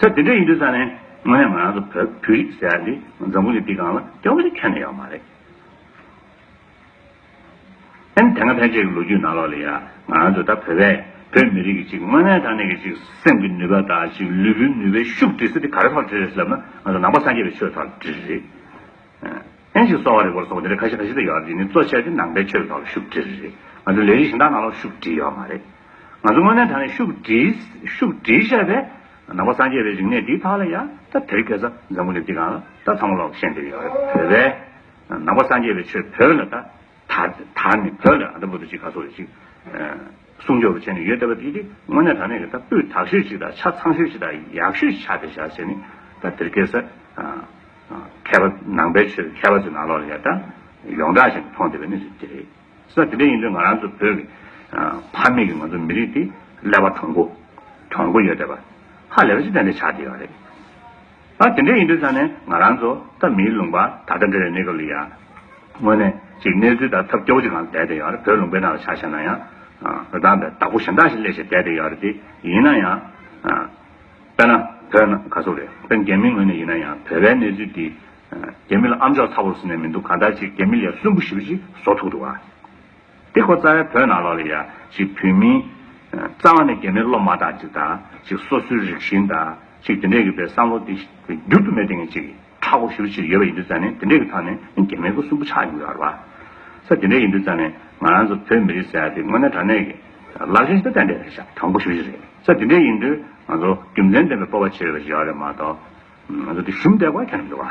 ད་དེ་འདྲ་ཡིན་དུས་ས་ནས་དངོས་གནས་ང་རང་ཚོ་བོད་བོད་རིགས་ཟེར་ཡ་འདི་འཛམ་བུ་གླིང་འདི་གང་ལ་སྐྱོ་བོ་ཞིག་ཁྱོན་ནས་ཡོད་མ་རེད། ཨན་དེ་སྔ་ཕལ་ཆེར་གྱི་ལོ་རྒྱུས་ནང་ལོགས་ལས་ཡ་ང་རང་ཚོ་ད་བོད་པས་བོད་མི་རིགས་ཀྱི་ཅིག་དངོས་གནས་དང་ནས་ཀྱི་ཅིག་སེམས་ཀྱི་ནུས་པ་དང་ཅིག་ལུས་པོའི་ནུས་པའི་ཤུགས་དེ་ཚོ་དེ་ག་རེ་ཐོག་འདྲི་རེད་ཟེར་ན་ང་ཚོ་ནང་པ་སངས་རྒྱས་པའི་ཆོས་ཐོག་འདྲི་རེད། ལྷན་ཅིག་གསོ་བ་རིག་པར་སོགས་འདིར་ཁ་ཤས་ཁ་ཤས་དུ་ཡོད་རྒྱུ་ནི་གཙོ་ཆེར་དེ་ནང་པའི་ཆོས་ཀྱི་ཐོག་ལ་ཤུགས་དྲིལ་རེད། ང་ཚོའི་ལས་རིགས་གཞན་དག་ནང་ལ་ཤུགས་དྲིལ་ཡོད་མ་རེད། ང་ཚོ་དངོས་གནས་ད་ནི་ཤུགས་དྲིལ་བཤད་པའི་ནང་པ་སངས་རྒྱས་པའི་རིག་གནས་འདིའི་ཐག་ལ་ཡ་ད་དེར་སྐད་ས་འཛམ་བུ་ལེབ་ཀྱི་སྒང་ལ་ད་ཚང་མ་ལོག་བཤད་འདིར་ཡོད་རེད་བོད་པའི་ནང་པ་སངས་རྒྱས་པའི་ཆོས་བོད་ལ་ད་ད་ནི་བོད་ལ་ཨ་ད་བུ་ད་ཅིག་ག་ཚོགས་རེད་ཅིག། སྲུང་སྐྱོབ་བྱས་ནས་ཡོད་བལྟ་བ་དེ་དེ་དངོས་གནས་དྲང་གནས་ཀྱི་ད་སྤུས་དག་ཤོས་ཤིག་དང་ཆ་ཚང་ཤོས་ཤིག་དང་ཡག་ཤོས་ཤིག་ཆགས་ཏེ་བཞག་བྱས་ནས་ད་དེར་སྐད་ས་མཁས་པ་ནང་པའི་ཆོས་མཁས་པ་ཚོའི་ནང་ལོགས་ལ་ཡར་ལྟ་ཡོངས་གྲགས་བཞིན་མཐོང་བསྡད་པའི་གནས་ཚུལ་དེ་རེད། ས་དེ་འདྲ་ཡིན་དུས་ང་རང་ཚོ་བོད་ཀྱི་ཕ་མེས་ཀྱི་ང་ཚོ་མི་རིགས་དེ་ཀླད་པ་དྲང་པོ། དྲང་པོ་ཡོད་བལྟ་བ། ཧ་ལས་པ་ཅི་ལྟ་འདྲ་ཆགས་བསྡད་ཡོད་རེད། ཨ་དེ་འདྲས་ཡིན་དུས་ཆ་ནས་ང་རང་ཚོ་ད་མིའི་ལུང་པ་ད་ལྟ་འདྲ་བའི་གནས་སྐབས་ལ་ཡང། དངོས་གནས་ཅིག་གནས་ཚུལ་ད་ཐབས་སྐྱོ་བོ་ཅིག་ལ་བསྡད་དེ་ཡོད་རེད་བོད་ལུང་པའི་ནང་ལ་ཆ་བཞག་ན་ཡང། རི་དྭགས་འདྲ་བདག་པོ་གཞན་དག་ཞིག་སླེབས་ཞེས་བསྡད་དེ་ཡོད་རེད་དེ་ཡིན་ན་ཡང། དཔེར་ན་བོད་ནང་ག་ཚོད་རེད་དཔེར་རྒྱ་མི་ངོས་ནས་ཡིན་ན་ཡང་བོད་པའི་གནས་ཚུལ་འདི། རྒྱ་མི་ལ་ཨམ་ཅོག་ཚ་བོར་ཟེར་ནས་མི་འདུག་གང་ལྟར་ཅིག་རྒྱ་མི་ལས་གསོན་པོ་ཞིག་པ་ཅིག་བཟོ་ཐུབ་འདུག་ཨ། འདི་ཁོ་རྩ་བའི་བོད་ནང་ལོག་ལེ་ཡ། ཅིག་བོད་མིའི། རྩ་བ་ནས་རྒྱ་མིའི་སློབ་མ་དག་ཅིག་དང། ཅིག་སོ་སོའི་རིགས་ཞེན་དང། ཅིག་དེ་འདྲས་ཀྱི་པའི་བསམ་བློ་འདི། འགྱུར་དུ་མེད་དེ་ངས་ཅིག། ཁྲག་གོ་ཞུ་ཕྱིར་ཡོད་པ་ཡིན་དུས་ཙང་ནས་དེ་འདྲས་ཀྱི་ཐང་ནས་རྒྱ་མིའི་སྐུ་སུམ་པོ་ཆགས་ཡོང་གི་ཨར་བ། ས་དེ་འདྲས་ཡིན་དུས་ཙང་ནས། ང་རང་ཚོ་བོད་མི་རིགས་ཟེར་ཡ་དེ་དངོས་གནས་དྲང་གནས་ཀྱི། ལག་ཤེས་ཇི་ལྟར་ལྡན་འདྲས་རེད་ཤག་དྲང་པོ་ཞུ་བཞི་རེད། ས་དེ་འདྲས་ཡིན་དུས། ང་ཚོ་རྒྱུ་མཚན་ལྡན་པའི་སྤོབས་པ་བྱེད་ཡོད་པ་ཞིག་ཡོད་རེད་མ་གཏོགས། ང་ཚོ་དེ་ཞུམ་བསྡད་ཀོ་ཁྱོད་ཀྱི་བ།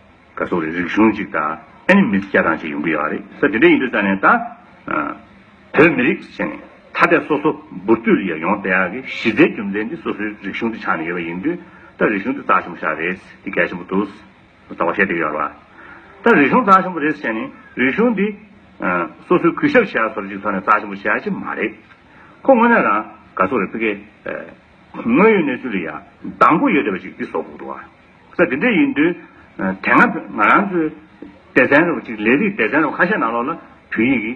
ག་སོགས་རིག་གཞུང་གཅིག་དང་ཨེ་ནི་མི་སྐྱ་དང་གཅིག་ཡོང་གི་ཡོད་རེད་ས་དེ་འདྲ་ཡིན་དུས་ཙང་ནས་ད། བོད་མི་རིགས་ཞེས་ནས་ཐ་དད་སོ་སོ་འབུར་བཏུས་རེ་ཡོང་བསྡད་ཡག་གི་གཞི་རྩའི་རྒྱུ་མཚན་དེ་སོ་སོའི་རིག་གཞུང་དེ་ཆགས་ནས་ཡོད་པ་ཡིན་དུས་ད་རིག་གཞུང་དེ་རྩ་ཆེན་པོ་ཤག་རེད་དེ་གལ་ཆེན་པོ་འདུག་ཟེར་བ་བཤད་བསྡད་ཀྱི་ཡོད་རེད་བ། ད་རིག་གཞུང་རྩ་ཆེན་པོ་རེད་ཟེར་ནས་རིག་གཞུང་དེ། སོ་སོའི་གུས་ཞབས་བྱས་ཡག་ཚོར་གཅིག་ཐོག་ནས་རྩ་ཆེན་པོ་བྱས་ཡག་ཅིག་མ་རེད། ཁོ་དངོས་གནས་རང་ག་སོགས་རེད་ཕི་གེ། དངོས་ཡོད་གནས་ཚུལ་ལ་ཡང་གདངས་པོ་ཡོད་བསྡད་པ་ཅིག་དེ་སོག་ཕུག་ཏུ་བ། ས་དེ་འདྲ་ཡིན་དུས། དེ་སྔ་ང་རང་ཚོའི་སྡེ་ཚན་རེ་བ་ཅིག་ལས་རིགས་སྡེ་ཚན་རེ་བ་ཁ་ཤས་ནང་ལོགས་ལ་བོད་ཡིག་གི་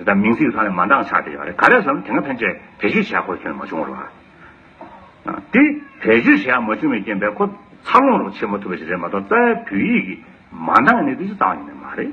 དང་མིང་ཚིག་ཚང་ལས་མ་འདང་ཆགས་བསྡད་ཡོད་རེད་ག་རེ་བསམ་དེ་སྔ་ཕན་ཆད་བེད་སྤྱོད་བྱས་ཁོ་བྱུང་མ་བྱུང་རོགས། དེ་བེད་སྤྱོད་བྱས་མ་བྱུང་བའི་རྐྱེན་པས་ཁོ་འཚར་ལོངས་རོགས་བྱེད་མ་ཐུབ་པ་ཞིག་རེད་མ་གཏོགས་རྩ་བའི་བོད་ཡིག་གི་མ་འདང་ནི་དེ་ཅི་ཙང་ཡིན་ནི་མ་རེད།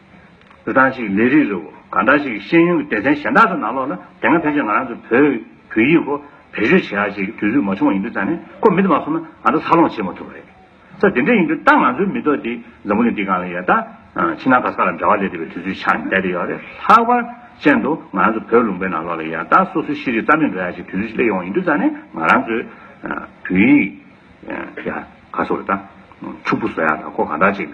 རི་ཐང་ཞིག་ལས་རིགས་རི་བོ་གང་འདྲ་ཞིག་ཤེས་ཡོན་གྱི་སྡེ་ཚན་གཞན་དག་དང་ནང་ལོགས་ན་དེ་སྔ་ཕལ་ཆེར་ང་རང་ཚོ་བོད་བོད་ཡིག་གོ་བེད་སྤྱོད་བྱས་ཡག་བྱས་ཀྱི་དུས་ཚོད་མ་བྱུང་བ་ཡིན་དུས་ཙང་ནས་ཁོ་མི་དེ་མ་གསུངས་ན་ང་ཚོ་འཚར་ལོངས་བྱེད་མ་ཐུབ་པ་རེད། ས་དེ་འདྲ་ཡིན་དུས་ད་ང་ཚོའི་མི་ཐོག་འདི་འཛམ་བུ་གླིང་འདི་གང་ལ་ཡལ་ད། ཕྱི་ནང་ག་ས་ལ་འདྲ་བ་ལས་འདས་པའི་དུས་ཚོད་ཆགས་བསྡད་དེ་ཡོད་རེད་ལྷག་པར་ཅན་དུ་ང་རང་ཚོ་བོད་ལུང་པའི་ནང་ལོགས་ལ་ཡལ་ད་སོ་སོའི་ཤེས་རིག་རྩ་མེད་འགྲོ་ཡག་བྱེད་དུས་ཚོད་སླེབས་ཡོང་བ་ཡིན་དུས་ཙང་ནས་ང་རང་ཚོས་བོད་ཡིག་ག་ས་རུ་ད་ཕྱུག་པོ་བཟོ་ཡག་ད་ཁོ་གང་འདྲ་ཞིག།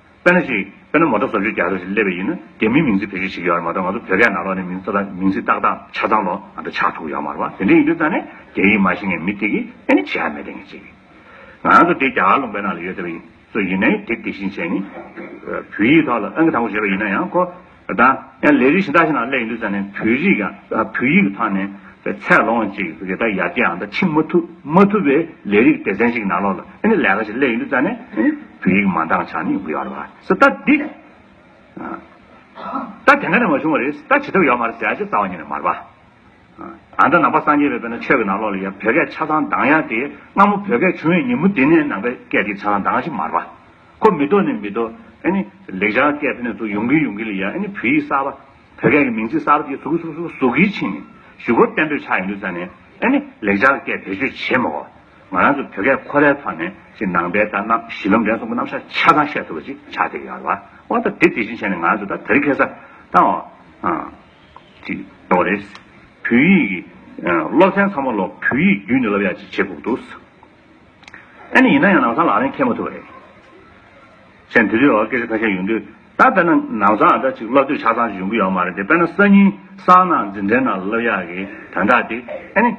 དཔེར་ན་ཞིག། དཔེར་ན་མོ་ཏོ་བཟོ་བཅོས་རྒྱག་ས་ཞིག་སླེབས་པ་ཡིན་ན། དེ་མིན་མིང་ཚིག་བེད་སྤྱོད་བྱེད་ཀྱི་ཡོད་རེད་མ་གཏོགས་ང་ཚོ་བོད་སྐད་ནང་ལོགས་ནས་མིང་ཚིག་དང་མིང་ཚིག་ཏག་ཏག་ཆ་ཚང་ལོགས་ང་ཚོ་ཆགས་ཐུབ་ཀྱི་ཡོད་མ་རེད་པ། དེ་འདྲའི་ཡིན་དུས་ཙང་ནས་རྒྱ་ཡིག་མ་ཤེས་མཁན་མི་དེ་གིས་ཨེ་ནི་བྱེད་ཨ་མེད་དེ་ངས་བྱེད་ཀྱི། ང་ཚོ་དེ་རྒྱ་གར་ལུང་པའི་ནང་ལ་ཡོད་ཟེར་བ་ཡིན། སོ་ཡིན་ནའི་དེ་དེ་བཞིན་བྱས་ནས། བོད་ཡིག་ཐོག་ལ་ཨང་ཀི་དང་པོ་བྱེད་པ་ཡིན་ན་ཡང་ཁོ། དང། ཡང་ལས་རིགས་གཞན་དག་ཞིག་ན་སླད་ཡིན་དུས་ཙམ་ནས་བོད་རིགས་ཡང་བོད་ཡིག་གི་ཐང་ནས་ཚད་ལོངས་ཅིག་རེ་ད་ཡར་རྒྱས་ཡང་ད་ཕྱིན་མ་ཐུབ་མ་ཐུབ་པའི་ལས་རིགས་སྡེ་ཚན་ཞིག་གི་ནང་ལོགས་ལ་ཨེ་ནི་ལས་ཀ་ཞིག་སླད་ཡིན་དུས་ཙམ་ནས་བོད་ཡིག་མ་འདང་ཆགས་ནས་འུར་ཡོང་བ་རེད་ད་འདི། ད་དེ་ག་ནས་མ་བྱུང་བ་རེད་ད་བྱེད་ཐབས་ཡོད་མ་རེད་ཟེར་ཡ་ཅེ་རྩ་བ་ཉིད་ནས་མར་པ། ཨ་ད་ནང་པ་སངས་རྒྱས་པའི་བོད་ན་ཆོས་ཀྱི་ནང་ལོགས་ལ་ཡང་བོད་སྐད་ཆ་ཚང་འདང་ཡ་དེ་སྔ་མོ་བོད་སྐད་བྱུང་བའི་ཉིན་མོ་དེ་ནས་ནང་པའི་སྐད་ཅིག་ཆ་ཚང་འདང་ཞིག་མར་པ། ཁོ་མི་ལྡོག་ནི་མི་ལྡོག། ཨཱ་ནི། ལེགས་སྦྱར་སྐད་དེ་ནི་ཐུགས་ཡོང་གི་ཡོང་གི་ལ་ཡ་ཨཱ་ནི་བོད་ཡིག་གསར་པ། བོད་སྐད་ཀྱི་མིང་ཚིག་གསར་པ་དེ་ཟུག་གི་ཟུག་ཟུག་ཟུག་གིས་ཕྱིན་ནས། ཞུ་སྒོར་བསྟན་འགྲོའི་ཆ་ཡིན་འདུག་ས་ནས། ཨཱ་ནི། ལེགས་སྦྱར་སྐད་བེད་སྤྱོད་བྱེད་མ་གོ། ང་རང་ཚོ་བོད་སྐད་ཁོ་རའི་ཐོག་ནས་ཅིག་ནང་པའི་དང་ནང་གཞི་ལམ་འབྲས་གསུམ་གྱི་རྣམ་གཞག་ཆ་ཚང་བཤད་ཐུབ་པ་ཅིག་ཆགས་ཐལ་ཡར་བ། ཨོ་ད་དེ་དེ་བཞིན་བྱས་ནས་ང་རང་ཚོ་ད་དེ་རིགས་ཁེ་ས་ད་འོ། ཅིག་འོ་རེད། བོད་ཡིག་གི། སློབ་ཚན་ཚང་མ་ལོ་བོད་ཡིག་བརྒྱུད་ནས་སློབ་ཡག་ཅིག་བྱེད་དགོས་འདུག། ཨ་ནི་ཡིན་ན་ཡང་ནང་སང་ལག་ལེན་འཁེལ་མ་ཐུབ་པ་རེད། ཞེན་དེ་དུས་འོག་སྐད་ཆ་ཁ་ཤས་ཡོང་དུས་ད་དཔེར་ན་ནང་སང་ཨ་ད་ཅིག་སློབ་དུས་ཆ་ཚང་ཞིག་ཡོང་གི་ཡོད་མ་རེད་དེ་དཔེར་ན་སང་ཉིན་སང་ནང་འཛིན་གྲྭའི་ནང་སློབ་ཡག་གི་དོན་དག་དེ་ཨ་ནི།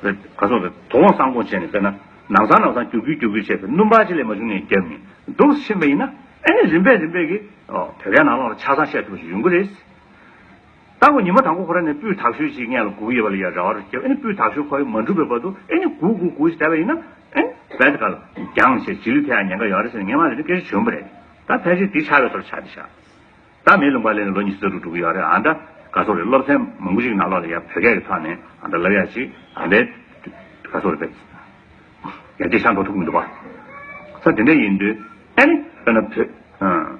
ག་སོང་རེད་དོ་དགོང་སང་དགོང་བྱས་ནས་དཔེར་ན་ནང་སང་ནང་སང་རྒྱུག་རྒྱུག་རྒྱུག་རྒྱུག་བྱས་པས་སྣུམ་བག་ཅི་ལས་མ་བྱུང་ནས་རྒྱབ་ནས་འདུག་བཞིན་པ་ཡིན་ན་ཨ་ནི་རིམ་པས་རིམ་པས་ཀྱི་བོད་སྐད་ནང་ལོགས་ལ་ཆ་ཚང་བཤད་ཐུབ་པ་ཞིག་ཡོང་གི་རེད། ལྟ་བུ་ཉི་མ་དང་པོ་ཁོ་ར་ནས་སྤུས་དག་ཤོས་ཅིག་སྔས་ལ་གུག་ཡེར་བ་ལ་ཡ་ར་བ་རུ་ཁྱེར་བ་ཨེ་ནི་སྤུས་དག་ཤོས་ཁོ་ཡི་མ་འགྲུབ་པའི་བར་དུ་ཨེ་ནི་གུག་གུག་གུག་ཞེས་བལྟ་བ་ཡིན་ན་ཨེ་ནི་བལྟ་ག་ལ། རྒྱང་ཞེས་བྱི་ལུས་ཕལ་ཡང་ཉན་ག་ཡོ་ར་ཟེར་ནས་སྔས་མ་ལས་ནི་སྐད་ཆ་བྱོན་པོ་རེད་ད་ཕལ་ཆེར་འདི་ཆ་བའི་ཐོག་ལ་ཆ་འདི་བཞག་ད་མེའི་ལུང་པ་ལས་ནི་ལོ་གཉིས་ཟུར་དུ་འགྲོ་གི་ཡོ་ར་ཨ་ད་ག་སོག་རེད་སློབ་ཚན་མང་པོ་ཞིག་ན་ལོག་ལ་ཡ་བོད་སྐད་ཀྱི་ཐོག་ནས་ཨ་ད་ལབ་ཡ་ཅིག་ཨ་ད་ག་སོག་རེད་བལྟ་ཡ་དེ་ཤ་འགྲོ་ཐུབ་གི་མི་འདུག་བ་ས་དེ་འདྲ་ཡིན་དུས་ཨེ་ནི་བལྟ་ན་བོད།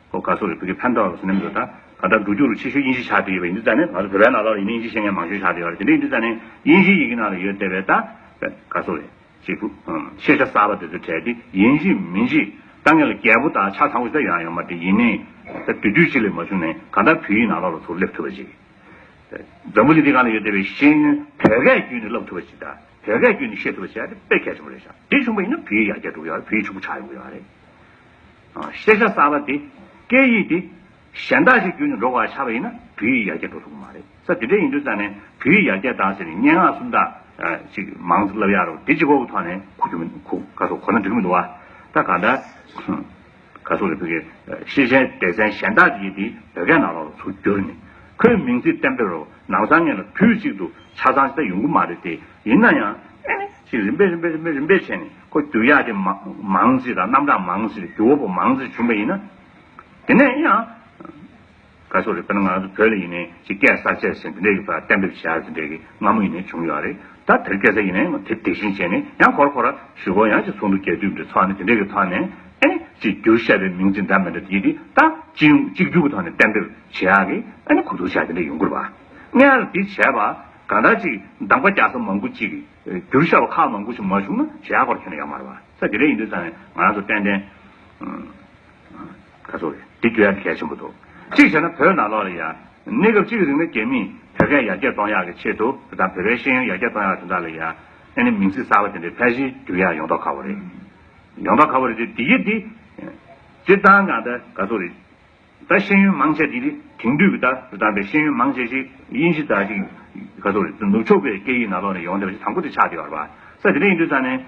ཁོ་ག་སོག་རེད་བོད་ཀྱི་ཕན་ཐོག་ལ་ཟིན་ནམ་འདོད་ད་ག་ད་འགྲོ་རྒྱུག་རུ་ཆེ་ཤོས་དབྱིན་ཇི་ཆགས་བསྡད་ཡོད་པས་འདི་ད་ནི་ང་ཚོ་བོད་པའི་ནང་ལ་ཡིན་ན་དབྱིན་ཇི་བཤད་མཁན་མང་ཤོས་ཆགས་བསྡད་ཡོད་རེད་དེ་འདྲའི་འདི་ད་ནི་དབྱིན་ཇི་ཡི་གི་ནང་ལ་ཡོད་བསྡད་པས་ད་ག་སོག་རེད་ཅེས་ཁུ་ཤེས་ཤ་གསར་པ་དེ་ཚོ་དྲལ་ཏེ་དབྱིན་ཇི་མིན་ཇི་ལྟ་ངན་ལ་རྒྱལ་པོ་ད་ཆ་ཚང་བོ་ད་ཡང་ཡང་མ་དྲིས་ཡིན་ནས་ད་དུས་དུས་གཅིག་ལས་མ་བྱུང་ནས་ག་ད་བོད་ཡིག་ནང་ལ་ལ་ཚོ་སླེབས་ཐུབ་པ་ཅིག་ད་འཛམ་བུ་གླིང་འདི་ག་ལ་ཡོད་བསྡད་པའི་ཤེས་ཡོན་བོད་སྐད་བརྒྱུད་ནས་བསླབ་ཐུབ་པ་ཅིག་ད་བོད་སྐད་བརྒྱུད་ནས་ཤེས་ཐུབ་པ་ཅིག་ཨ་དེ་དཔེ་གལ་ཆེན་པོ་རེད་ཤག་དེ་བྱུང་བ་ཡིན་ན་བོད་ཡིག་ཡར་རྒྱས་འགྲོ་གི་ཡོད་རེད་བོད་ཡིག་ཕྱུག་པོ་ཆགས་ཡོང་གི་ཡོད་རེད། ཤེས་བྱ་གསར་པ་དེ་སྐད་ཡིག་དེ་གཞན་དག་ཅིག་བརྒྱུད་ནས་འགྲོ་བར་བྱ་བ་ཡིན་ན་བོད་ཡིག་ཡར་རྒྱས་འགྲོ་ཐུབ་ཀྱི་མ་རེད། ས་དེ་འདྲ་ཡིན་དུས་ཙམ་ནས་བོད་ཡིག་ཡར་རྒྱས་གཏང་ཟེར་ནས་སྙན་ངག་སུམ་རྟགས་ཅིག་མང་ཙམ་བསླབ་ཡག་རོགས་དེ་ཅི་ཁོ་བོ་ཐོག་ནས་གོ་རྒྱུ་མི་འདུག་ག་གོ་ན་འགྲིག་གི་མི་འདུག་བ། ད་ག་འདྲ། ག་སོགས་རེད་བོད་ཀྱི་ཤེས་བྱའི་སྡེ་ཚན་གཞན་དག་ཅིག་གིས་དེ་བོད་སྐད་ནང་ལོགས་ལ་ཚུར་བསྒྱུར་ནས་ཁོའི་མིང་ཚིག་གཏན་འབེབས་རོགས་ནང་བཟང་ངན་ལ་དུས་གཅིག་ཏུ་ཆ་ཚང་ཞིག་ད་ཡོང་གི་མ་རེད་དེ་ཡིན་ན་ཡང། ཅིག་རིམ་པས་རིམ་པས་རིམ་པས་རིམ་པས་བྱས་ནས་ཁོ་རྒྱུ་གཡག་དེ་མང་ཟིག་དང་རྣམ་གྲངས་མང་ཟིག་རྒྱུ་བ་པོ་མང་ཟིག་བྱུང་བ་ཡིན་ན། དེ་ནས་ཡང། ག་སོ་རེད་དཔེར་ན་ང་ཚོ་བོད་ལ་ཡིན་ནའི་ཅིག་སྐད་གསར་བཅད་ཟེར་འདི་འདྲའི་ཡོད་པ་གཏན་འབེབས་བྱས་ཟེར་འདྲའི་གི་སྔ་མོ་ཡིན་ནའི་བྱུང་ཡོད་རེད་ད་དེར་སྐད་གསར་ཡིན་ནའི་དེ་དེ་བཞིན་བྱས་ནས་ཡང་ཁོ་ར་ཁོ་ར་ཞུ་བ་ཡང་ཅིག་ཚོགས་འདུ་རྒྱས་བསྡུས་འདི་ཚོགས་ནས་དེ་འདྲའི་གི་ཐོག་ནས་ཨེ་ཅིག་རྒྱུ་བཤད་པའི་མིང་ཅིག་འདྲ་མི་འདྲ་དེ་དེ་ད་ཅིག་རྒྱུ་གི་ཐོག་ནས་གཏན་འབེབས་བྱས་གི་ཨེ་ནའི་གོ་བསྡུར་བྱས་འདི་འདྲའི་ཡོང་གི་རུ་བ་ངལ་དེ་བྱས་པ། གང་དག་ཅིག་གདམས་ཀ་རྒྱ་ས་མང་པོ་ཅིག་བསྒྱུར་བྱ་བ་ཁག་མང་པོ་ཞིག་མ་བྱུང་ན་གཞལ་ཡག་པར་ཁྱོད་ནི་ཡག་མ་རེད་བ། ས་དེ་རེད་ཡིན་དུས་ཙང་ནས་ང་རང་ཚོ་ཏན་ཏན། ཁ་སོ། འདི་བསྒྱུར་ཡག་གལ་ཆེན་པོ་འདུག་གཅིག་བྱས་ན་བོད་ནང་ལོགས་ལ་ཡ། གནས་སྐབས་གཅིག་གི་རིང་ལ་རྒྱ་མིས་བོད་སྐད་ཡར་རྒྱས་གཏོང་ཡག་གི་ཆེད་དུ་དེ་དང་བོད་པའི་ཤེས་ཡོན་ཡར་རྒྱས་གཏོང་ཡག་དོན་དག་ལ་ཡ། ཨེ་ནས་མིང་ཚིག་གསར་བ་དེ་འདྲའི་ཕལ་ཆེར་བསྒྱུར་ཡག་ཡོང་ཐོག་ཁག་པོ་རེད། ཡོང་ཐོག་ཁག་པོ་རེད་དེ་འདི་ཡིན་འདི། སྤྱིར་བཏང་གང་ལྟར་ག་སོ་རེད། ད་ཤེས་ཡོན་མང་ཆེ་འདི་ནི་དེང་དུས་ཀྱི་ད་བདམས་པའི་ཤེས་ཡོན་མང་ཆེ་ཞིག་དབྱིན་ཇི་དག་ཅིག་ག་ཚོད་རེད་ནུབ་ཕྱོགས་པའི་སྐད་ཡིག་ནང་ལོག་ནས་ཡོང་བསྡད་པ་ཞིག་དང་པོ་དེ་ཆགས་བསྡད་པར་བ་ས་དེ་འདྲ་ཡིན་དུས་ཙང་ནས་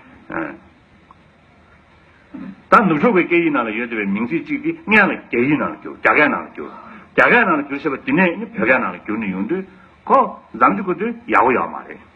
ད་ནུབ་ཕྱོགས་པའི་སྐད་ཡིག་ནང་ལ་ཡོད་བསྡད་པའི་མིང་ཚིག་ཅིག་དེ་སྔན་ལ་རྒྱ་ཡིག་ནང་ལ་བསྒྱུར་རྒྱ་སྐད་ནང་ལ་བསྒྱུར་རྒྱ་སྐད་ནང་ལ་བསྒྱུར་ཞེས་པ་དེ་ནས་ནི་བོད་སྐད་ནང་ལ་བསྒྱུར་ནས་ཡོང་དུས་ཁོ་འཛམ་གྱི་གོ་དོན་ཡག་པོ་ཡག་པོ་མ་རེད།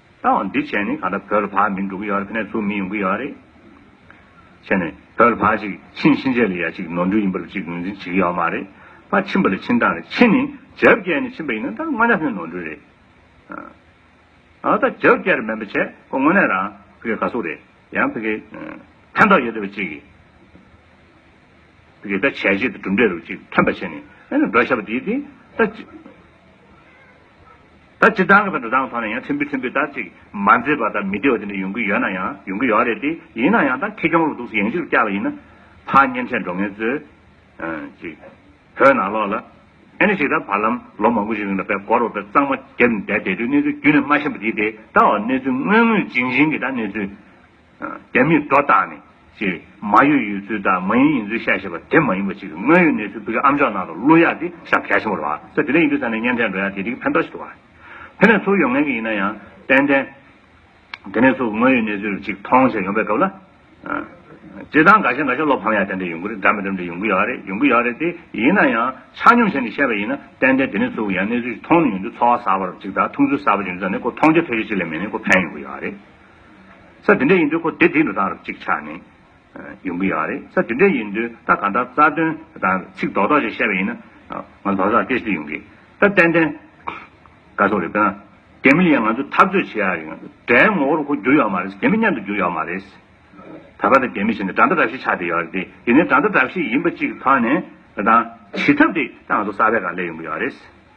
ད་འོ་འདི་བྱས་ནས་ག་ད་བོད་ལ་བག་མི་འགྲོ་གི་ཡོད་རེད་ཕན་ནས་ཚུར་མི་ཡོང་གི་ཡོད་རེད། བྱས་ནས་བོད་ལ་བག་ཅིག་ཕྱིན་ཕྱིན་ཆད་ལ་ཡ་གཅིག་ནོར་འཁྲུལ་ཡིན་པ་རུ་གཅིག་ངོས་འཛིན་བྱེད་གི་ཡོད་མ་རེད། བག་ཕྱིན་པ་ལ་ཕྱིན་སྟངས་རེད་ཕྱིན་ནས་བྱབ་བསྐྱལ་ནས་ཕྱིན་པ་ཡིན་ན་ད་དངོས་གནས་ནོར་འཁྲུལ་རེད། ཨ་ད་བྱབ་བསྐྱལ་རེད་མིན་པ་བྱས་ཁོ་དངོས་གནས་རང་ཕི་གེ་ག་སུ་རེད་ཡང་ཕི་གེ་ཕན་ཐོག་ཡོད་བསྡད་པ་གཅིག་ཕི་གེ་ད་བྱས་རྗེས་ད་གྲུབ་འབྲས་རུ་གཅིག་ཐོན་པ་བྱས་ནས་ཨ་ན་འགྲོ་ཤ་བ་དེ་དེ་ད། ད་ཇི་ལྟར་འགྲོ་ལྡང་ཐོག་ནས་ཡང་ཕྲན་བུ་ཕྲན་བུ་དག་ཅིག་མ་མཛེས་པ་དང་མི་བདེ་བ་དེ་འདྲ་ཡོང་གི་ཡོད་ན་ཡང་ཡོང་གི་ཡོད་རེད་དེ། ཡིན་ན་ཡང་ད་ཁེ་གྱོང་ལོ་དུག་ཡང་ཞིག་ཏུ་བསྐྱལ་བ་ཡིན་ན། ཕ་གཉན་ཆེན་འགྲོ་ངན་ཚོས། ཅིག། བོད་ནང་ལོག་ལ། ཨེ་ནི་ཞིག་ད་བར་ལམ་ལོ་མང་པོ་ཞིག་རིང་ལ་བལ་སྒོར་བ་བལ་གཙང་མ་རྒྱབ་ནས་བསྡད་བསྡད་དུས་གནས་ཚུལ་རྒྱུན་ནས་མ་ཤེས་པ་དེ་དེ་ད་འོ་གནས་ཚུལ་དངོས་དངོས་རྗིན་རྗིན་གྱི་ད་གནས་ཚུལ། རྒྱ་མིས་སྒྲོ་བཏགས་ནས་ཀྱི་མ་ཡོད་ཡོད་ཚུལ་དང་མ་ཡིན་ཡིན་ཚུལ་བཤད་ཞེས་པ་དེ་མ་ཡིན་པ་ཅིག་གི་དངོས་ཡོད་གནས་ཚུལ་བོད་ཀྱི་ཨམ་ཅོག་ནང་དུ་གླུ་ཡག་དེ་ཤ་བལ་ཞིམ་པོར་བ་ས་དེ་ལས་ཡིན་དུས་ས་ནས་བརྙན་འཕྲིན་འགྲོ་ཡག་དེ་དེ་གི་ཕན་ཐོགས་ཤིག་ཏུ་བ། དེ་ནས་ཚུར་ཡོང་མཁན་གྱི་ཡིན་ན་ཡང་ཏན་ཏན། དེ་ནས་ཚུར་དངོས་ཡོད་གནས་ཚུལ་ཅིག་མཐོང་ཞེས་ཡོང་པའི་སྐབས་ལ། བྱེད་སྟངས་འགའ་ཤས་འགའ་ཤས་བློ་ཕམ་ཡག་ཏན་ཏན་ཡོང་གི་རེད་འདྲ་མི་འདྲ་མི་འདྲ་ཡོང་གི་ཡག་རེད་ཡོང་གི་ཡག་རེད་དེ་ཡིན་ན་ཡང་ཆ་སྙོམས་བྱས་ནས་བཤད་པ་ཡིན་ན་ཏན་ཏན་དེ་ནས་ཚུར་ཡང་གནས་ཚུལ་ཅིག་མཐོང་ནས་ཡོང་དུས་ཚོར་བ་ཟབ་པར་ཅིག་དང་མཐོང་ཚུལ་ཟབ་པ་ཅིག་འདུག་ད་ནས་ཁོ་མཐོང་རྒྱ་ཐོས་རྒྱ་ཅིག་ལས་མེད་ནས་ཁོ་ཕན་ཡོང་གི་ཡག་རེད། ས་དེ་འདྲས་ཡིན་དུས་ཁོ་དེ་དེ་འགྲོ་སྟངས་རབ་གཅིག་ཆགས་ནས་ཡོང་གི་ཡོད་རེད་ས་དེ་འདྲས་ཡིན་དུས་ད་གང་ལྟར་རྩ་དོན་དང་ཚིག་རྡོག་རྡོག་ཅིག་བཤད་པ་ཡིན་ན་ང་ལྷོ་སར་ཏེ་ཏེ་ཡོང་གི་ད་ཏན་ཏན་དགའ་སོགས་རེད་དཔེར་ན་རྒྱ་མི་ལ་ཡང་ང་ཚོས་འཐབ་རྩོད་བྱེད་ཡག་རེད་དགྲའི་ངོ་བོར་ཁོ་འགྱུར་ཡོད་མ་རེད་རྒྱ་མི་མཉམ་དུ་འགྱུར་ཡོད་མ་རེད། ད་བར་དང་རྒྱ་མི་བྱེད་ནས་དགྲ་མདའ་དགྲ་བཤིག་ཆགས་བསྡད་ཡོད་རེད་དེ་ཡིན་ན་དགྲ་མདའ་དགྲ་བཤིག་ཡིན་པ་གཅིག་ཐོན་ནས་ད་ལྟ་བྱེད་ཐབས་དེ་ད་ང་ཚོ་གསར་པས་གང་ལས་ཡོང་གི་ཡོད་རེད།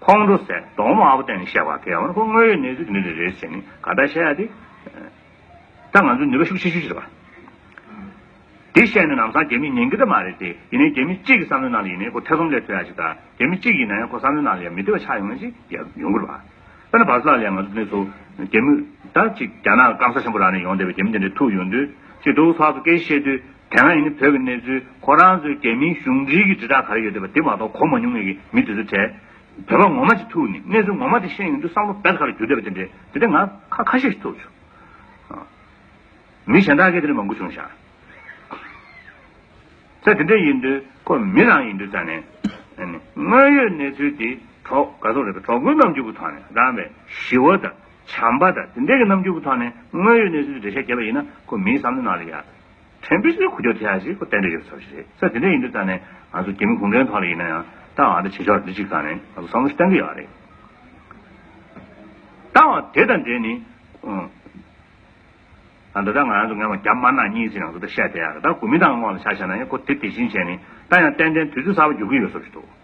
ཁོང་ཁྲོ་ཟད་གདོང་དམར་པོ་སྟེང་ནས་བཤད་པ་དེ་ཡང་ཁོང་དངོས་ཡོད་གནས་ཚུལ་འདི་འདྲ་རེད་ཟེར་ནས་ག་ལྟར་བཤད་ཡ་དེ། ད་ང་ཚོས་ནུས་པ་ཤུགས་ཆེ་ཤོས་ཅི་རེད་བ། དེ་བཤད་ནས་ནམ་སང་རྒྱ་མིས་ཉན་གི་ད་མ་རེད་དེ་ཡིན་ནའི་རྒྱ་མི་གཅིག་གི་བསམ་བློའི་ནང་ལ་ཡིན་ནའི་ཁོ་ཐེ་ཚོམ་ལས་ཐོན་ཡ་ཞིག་ད་རྒྱ་མི་གཅིག་ཡིན་ན་ཡང་ཁོ་བསམ་བློའི་ནང་ལ་ཡང་མི་བདེ་བ་ཆགས་ཡོང་ངེས་ཅིག་ཡོད་ཡོང་གི་རེད་བ། དཔེར་ན་བར་སླ་ལས་ང་ཚོ་དེ་ཚོ་རྒྱ་མི་ད་ཅིག་རྒྱ་ནག་སྐམ་ས་ཆེན་པོ་རང་ནས་ཡོང་བསྡད་པའི་རྒྱ་མི་དེ་འདྲའི་ཐུག་ཡོང་དུས་ཅིག་དུག་ལྷག་ཏུ་སྐད་ཤེས་དུས་དེ་སྔ་ཡིན་ནའི་བོད་ཀྱི་གནས་ཚུལ་ཁོ་རང་ཚོའི་རྒྱ་མིའི་གཞུང་འབྲེལ་གྱི་དྲིལ་བསྒྲགས་ག་རེ་ཡོད་བསྡད་པ་དེ་མ་གཏོགས་གོ་མ་མྱོང་ངེས་ཀྱི་མི་དེ་ཚོ་བྲེལ། བོད་པ་ངོ་མ་ཅིག་ཐུག་ནས་གནས་ཚུལ་ངོ་མ་དེ་ཤེས་ཡོང་དུས་བསམ་བློ་བེད་ཁ་རུ་འགྱུར་བསྡད་པ་དེ་འདྲའི་དེ་ལྟའི་ང་ཁ་ཁ་ཤས་ཤིག་ཐུག་བྱུང། མི་གཞན་དག་གིས་དེ་ལས་མང་པོ་བྱུང་ཤག་ཚེ་དེ་འདྲའི་ཡིན་དུས་ཁོ་མི་རང་ཡིན་དུས་ད་ནི་དངོས་ཡོད་གནས་ཚུལ་དེ་གྲོགས་ག་ཚོགས་རེད་པས་གྲོགས་པོའི་རྣམ་འགྱུར་གྱི་ཐོག་ནས་རང་བས་ཞི་བ་དང་བྱམས་པ་དང་དེ་འདྲའི་གྱི་རྣམ་འགྱུར་གྱི་ཐོག་ནས་དངོས་ཡོད་གནས་ཚུལ་དེ་འགྲེལ་བཤད་བྱས་པ་ཡིན་ན་ཁོ་མིའི་བསམ་བློའི་ནང་ལ་ཡ། ཁྲེན་པེ་ཅིའི་ཁུ་བྱུག་དེ་ཡང་ཞིག་ཁོ་བསྟན་འགྲོ་ཡོད་པའི་ཚོར་བ་ཞིག་རེད། ཚེ་འདི་འདྲའི་ཡིན་དུས་ད་ནས་ང་ཚོ་གྱད་མི་གུང་ཁྲན་ཐོག་ལ་ཡིན་ན་ཡང་ཏང་བ་དང་བྱེས་འབྱོར་འདི་གཅིག་བསགས་ནས་ང་ཚོ་བསམ་བློ་ཞིག་བསྟན་གྱི་ཡོད་རེད། ཏང་བ་དེ་དང་འབྲེལ་ནས། ད་ལྟ་ང་ཚོ་ངེས་པར་རྒྱ་དམར་ནག་གཉིས་ཀྱི་ནང་དུ་ད་བཤད་བསྡད་ཡ་རེད་ད་གོ་མིན་ཏང་གི་ངོགས་ལ་ཆ་བཞག་ན་ཡང་ཁོ་དེ་དེ་བཞིན་བྱས་ནས་ད་ཡང་ཏན་ཏན་དུས་ཚོད་གསར་བ་འགྱུར་གྱི་ཡོད་ཚོར་བ་ཞིག་འདུག།